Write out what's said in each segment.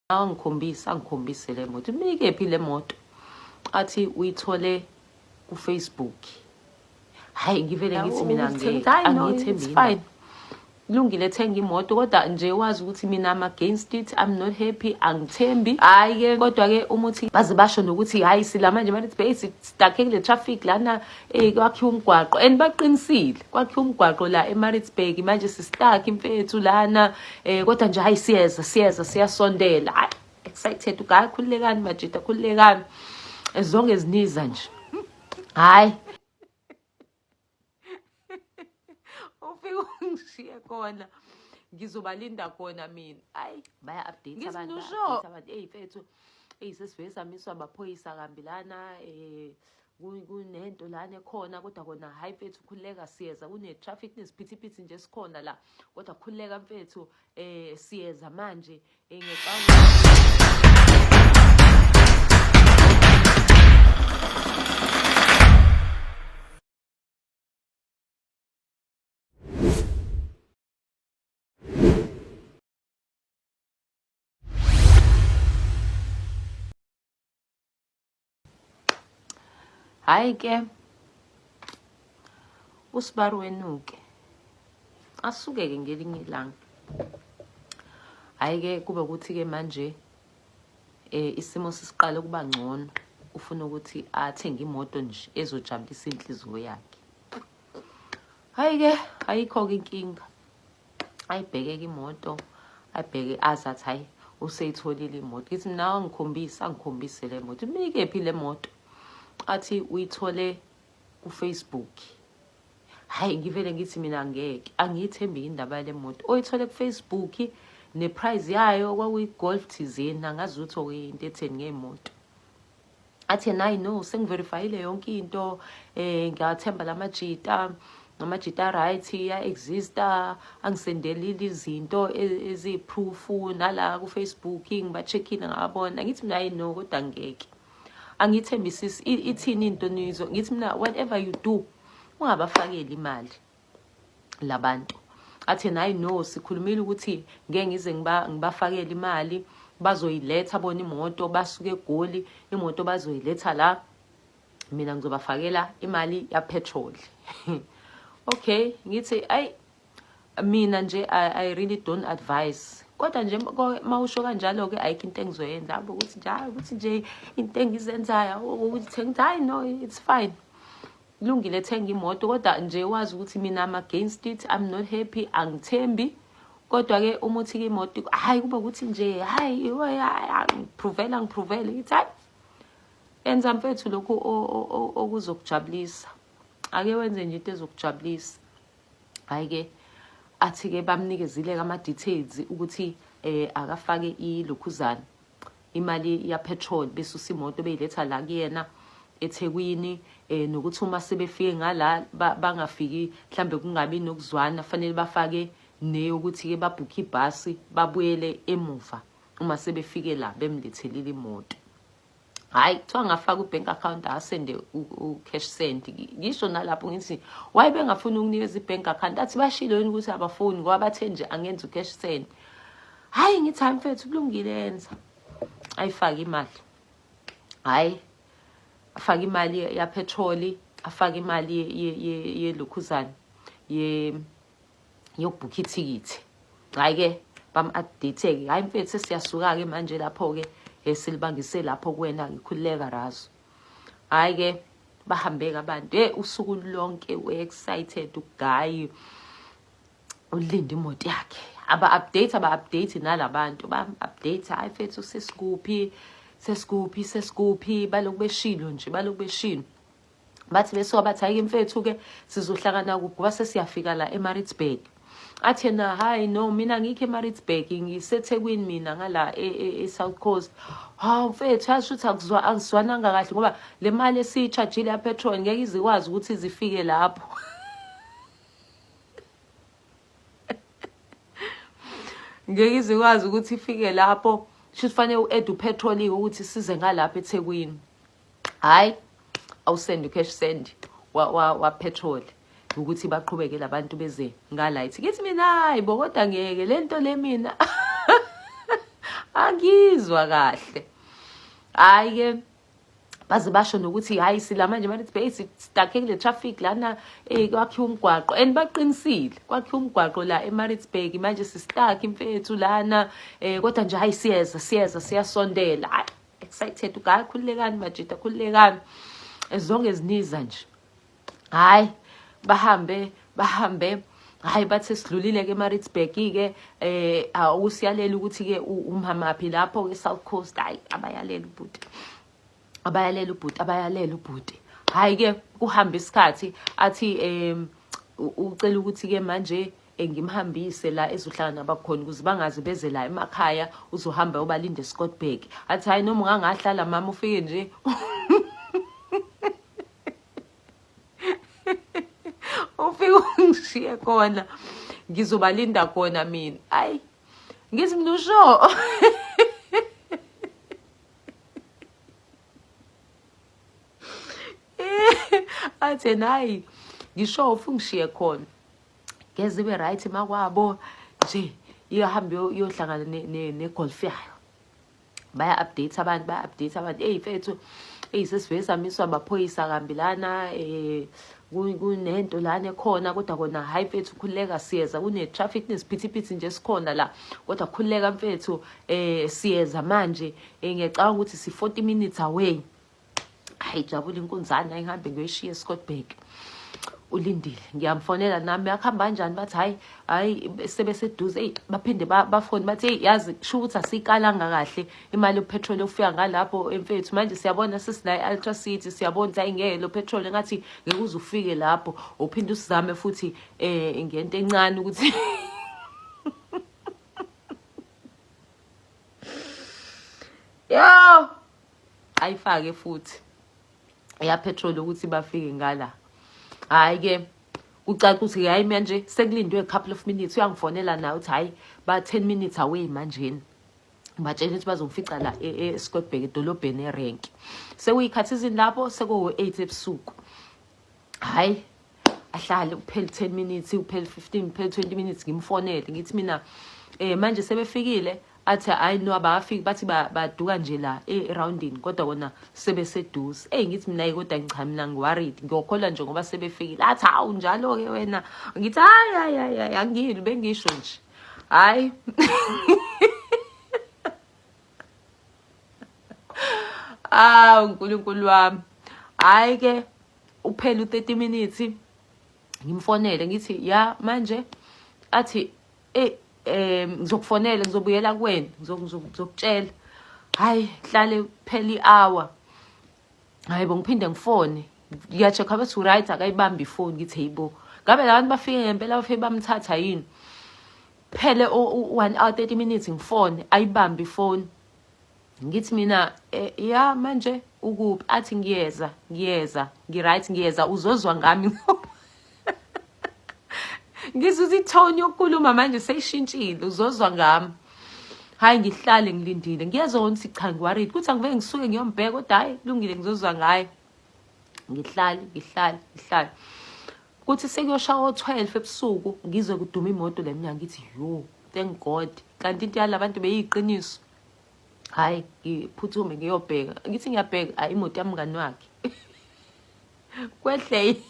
angikhombise angikhombise le moto imikephi le moto athi uyithole kufacebook hayi ngivele ngithi mina angiyithembile lungile thenga imoto kodwa nje wazi ukuthi mina am against it i'm not happy angithembi hayi ke kodwa ke umuthi baze basho nokuthi hayi sila manje manje base stuck kule traffic lana Ey kwakhiwa umgwaqo and baqinisile kwakhiwa umgwaqo la eMaritzburg manje sistuck imfethu lana eh kodwa nje hayi siyeza siyeza siyasondela hayi excited ugayi khululekani majita khululekani as long as niza nje hayi ufike ungishiye khona ngizobalinda khona mina ayi baya update abantu ngisho abantu ey mfethu ey sesivesamiswa amaphoyisa kambi lana eh kunento lana ekhona kodwa kona hayi mfethu khululeka siyeza kune-traffic nesiphithiphithi nje sikhona la kodwa khululeka mfethu um siyeza manje um hayi ke usibari wenuke asuke-ke ngelinye ilanga hhayi-ke kube ukuthi-ke manje eh isimo sisiqale ukuba ngcono ufuna ukuthi athenge imoto nje ezojabulisa inhliziyo yakhe hhayi-ke ayikho-ke inkinga ayibhekeke imoto ayibheke azi athi hayi useyitholile imoto ngithi mina angikhombise angikhombise le moto imikephi le moto athi uyithole kufacebook hhayi ngivele ngithi mina ngeke angiyithembi indaba yale moto oyithole kufacebook neprize yayo kwakuyi-golf thizeni angazi ukuthi okuyinto etheni ngey'moto athi yena hayi no sengiverifayile yonke into um eh, ngiyawathemba la majita ngamajita right iya-exista angisendelile izinto e, eziyiphrufu nala kufacebook ngiba-check-ile ngabona ngithi mina hayi no kodwa ngeke angiyithembisisi ithini into nizo ngithi mina whatever you do ungabafakeli imali labantu athena hayi no sikhulumile ukuthi ngeke ngize ngibafakele imali bazoyiletha bona imoto basuke egoli imoto bazoyiletha la mina ngizobafakela imali yapetrol okay ngithi ayi mina nje I, i really don't advise kodwa nje mawusho kanjalo ke ayikho into engizoyenza hamba ukuthi njalo ukuthi nje into engizenzayo ukuthi ngithi hayi no it's fine Lungile thenga imoto kodwa nje wazi ukuthi mina am against it i'm not happy angithembi kodwa ke uma uthi ke imoto hayi kuba ukuthi nje hayi ngiphrovela ngiprovele ngithi hayi enza mfethu lokhu okuzokujabulisa ake wenze nje into ezokujabulisa hayi ke athi ke bamnikezile ama details ukuthi eh akafake ilokhuzana imali yapetrol besusa imoto beyiletha la kuyena eThekwini eh nokuthi uma sebefike ngala bangafiki mhlambe kungabi nokuzwana fanele bafake neyokuthi ke babhukhe ibhasi babuyele emuva uma sebefike la bemlethelile imoto hayi kuthiwa ngafaka ubank account asende ucash send ngisho nalapho ngithi waye bengafuni ukunikeza ibank account athi bashilo yini ukuthi abafuni ngoba bathe nje angenza ucash send hayi ngithi hayi mfethu kulungile yenza ayifake imali hayi afake imali yapetroli afake imali yelokhuzane yokubhukha ithikithi hhayi-ke bam-update-ke hhayi mfethu sesiyasuka-ke manje lapho-ke um silibangise lapho kuwena ngikhululeka razo hhayi-ke bahambeke abantu e usuku lonke u-excited ugayi ulinda imoto yakhe aba-update aba-update nalabantu ba-update hhayi fethu sesikuphi sesikuphi sesikuphi baloku beshilo nje baloku beshilo bathi besuka bathi hhayi-ke mfethu-ke sizohlangana kuphi ngoba sesiyafika la emaritzburg athi yena hhayi no mina ngikho emaritzburg ngisethekwini mina ngala e-, e-, e-south coast hawu mfethu yazi ukuthi angizwananga kahle ngoba le mali esiyitshajile yapetrol ngeke izikwazi ukuthi zifike lapho ngeke izikwazi ukuthi ifike lapho shuthi fanele u-ede upetrolike ukuthi size ngalapha ethekwini hhayi awusendi ucash send wapetroli wa, wa ukuthi baqhubeke labantu beze ngalight ngithi mina hayi bo kodwa ngeke lento le mina angizwa kahle hayi ke baze basho nokuthi hayi sila manje manje sibe sidakhe kule traffic lana eh kwakhiwa umgwaqo and baqinisile kwakhiwa umgwaqo la eMaritzburg manje sisitak imfethu lana eh kodwa nje hayi siyeza siyeza siyasondela hayi excited ugayi khululekani majita khululekani ezonge ziniza nje hayi bahambe bahambe hayi bathi sidlulile-ke emaritzburg-ke eh awusiyalela ukuthi-ke umhamaphi lapho-ke south coast hayi abayalela ubhuti abayalela ubhuti abayalela ubhuti hhayi-ke kuhambe isikhathi athi um ucela ukuthi-ke manje ngimhambise la ezohlala nabakhona ukuze bangaze beze la emakhaya uzohamba ubalinde escottburg athi hhayi noma ungangahlala mama ufike nje ufike ungishiye khona ngizobalinda khona mina ayi ngithi mina usho athe nayi ngisho ufu ngishiye khona ngeze ibe right makwabo nje iyohambe yohlangana negolf yayo baya-update abantu baya-update abantu eyi mfethu eyi sesivele samiswa amaphoyisa kambi lana um kunento lana ekhona kodwa kona hhayi mfethu khululeka siyeza kune-traffic nesiphithiphithi nje sikhona la kodwa khululeka mfethu um siyeza manje um ngiyacabanga ukuthi si-forty minutes away hayi jabula inkunzane ayihambe ngiyoyishiya escotbag ulindile ngiyamfonela nami akuhamba kanjani bathi hayi hayi sebeseduze eyi baphinde bafone bathi eyi yazi sho ukuthi asiyikalanga kahle imali yopetrol yokufika ngalapho emfethu manje siyabona sesinayo i-ultra city siyabona ukuthi hayi ngeke lo petrol engathi ngeke uze ufike lapho uphinde usizame futhi um ngento encane ukuthi yo ayifake futhi ya petrol ukuthi bafike ngala hayi ke ucaca ukuthi hayi manje sekulindwe a couple of minutes uyangifonela naye uthi hayi ba 10 minutes away manjeni batshela ukuthi bazongifica la e, e, eScottburg edolobheni erenki sekuyikhathi izini lapho sekuwu-8 ebusuku hayi ahlale kuphele 10 minutes kuphele 15 kuphele 20 minutes ngimfonele ngithi mina eh manje sebefikile athi hayi no abafiki bathi baduka nje la eroundini kodwa kona sebeseduze eyi ngithi mina kodwa ngicha mina ngiworried ngiyokholwa nje ngoba sebefikile athi hawu njalo-ke wena ngithi hayi hayi hayi hayi angiyini bengisho nje hhayi awu nkulunkulu wami hhayi ke uphele u-30 minutes ngimfonele ngithi ya manje athi eyi um ngizokufonela ngizobuyela kuwena ngizokutshela hhayi hlale phela i-hour hhayi bo ngiphinde ngifone ngiya-check-a bethi u-right akayibambi ifoni ngithi heyi bo ngabe la bantu bafike ngempela bafike bamthatha yini phele one hour 30 minutes ngifone ayibambi ifoni ngithi mina eh, ya manje ukuphi athi ngiyeza ngiyeza ngiright ngiyeza uzozwa ngami ngizuza itone yokukhuluma manje seyishintshile uzozwa ngami hayi ngihlale ngilindile ngiyezwa ukuthi cha ngiworried kuthi angiveke ngisuke ngiyombheka kodwa hayi kulungile ngizozwa ngaye ngihlale ngihlale ngihlale Kuthi sekuyosha o-12 ebusuku ngizwe kuduma imoto la emnyango ngithi yo thank God kanti into yala bantu beyiqiniso. Hayi ngiphuthume ngiyobheka ngithi ngiyabheka hayi imoto yamngani wakhe. Kwehle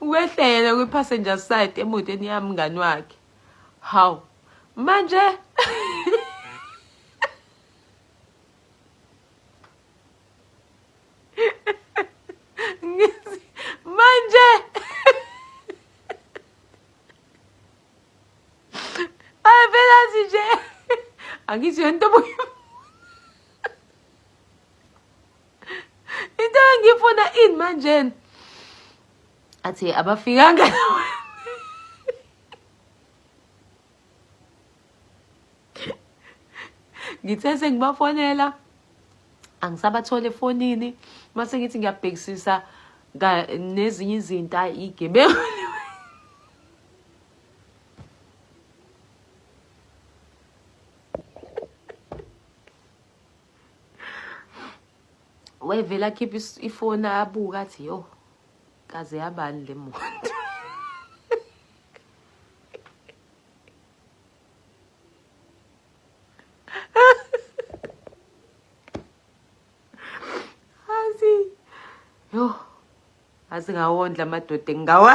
Kwehle yena kwi passenger side emotweni yami mngani wakhe. Hawu manje Angithi yonto obuye into engifuna ini manjena athi abafikanga ngithe sengibafonela angisabathole efonini mase ngithi ngiyabhekisisa nezinye izinto ayi igebengu wayevele akhiphe ifoni abuka athi yo kaze yabani le muntu Yho. Asingawondla amadoda engawa.